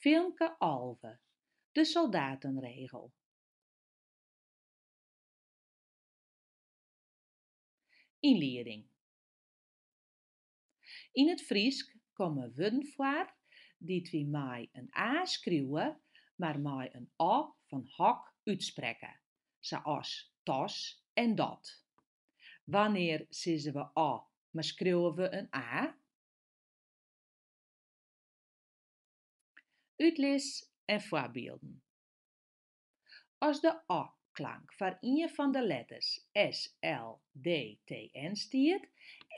Filmke Alve, De soldatenregel. Ynlieding. Yn it Frysk komme wurden foar dy't wy mei in a skriuwe, mar mei in o fan hok útsprekke, sa as tas en dat. Wannear sizze we o, mar skriuwe we in a? Utlis en foarbylden. As de o-klank foar ien fan de letters s, l, d, t, n stiet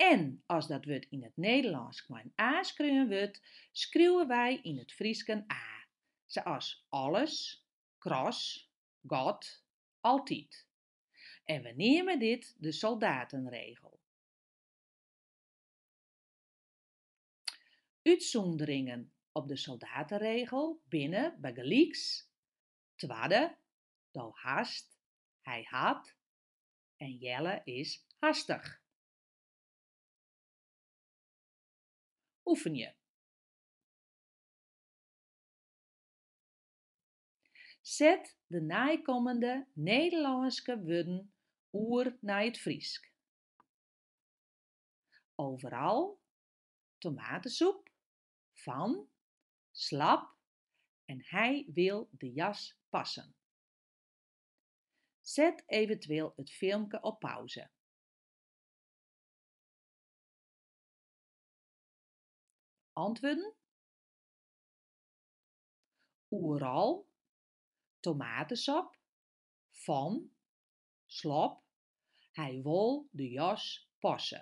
en as dat wurd yn it Nederlânsk mei in a skreaun wurdt, skriuwe wy yn it Frysk in a, sa as alles, kras, gat, altyd. En we neame dit de soldatenregel. Utsûnderingen op de soldatenregel binne bygelyks, twadde, do hast, hy hat en Jelle is hastich. Oefenje. Set de neikommende Nederlânske wurden oer nei it Frysk. Overal tomatensoep, van, slap en hij wil de jas passen. Set eventueel it filmke op pauze. Antwurden oeral, tomatesop, fan, slop, hy wol de jas passe.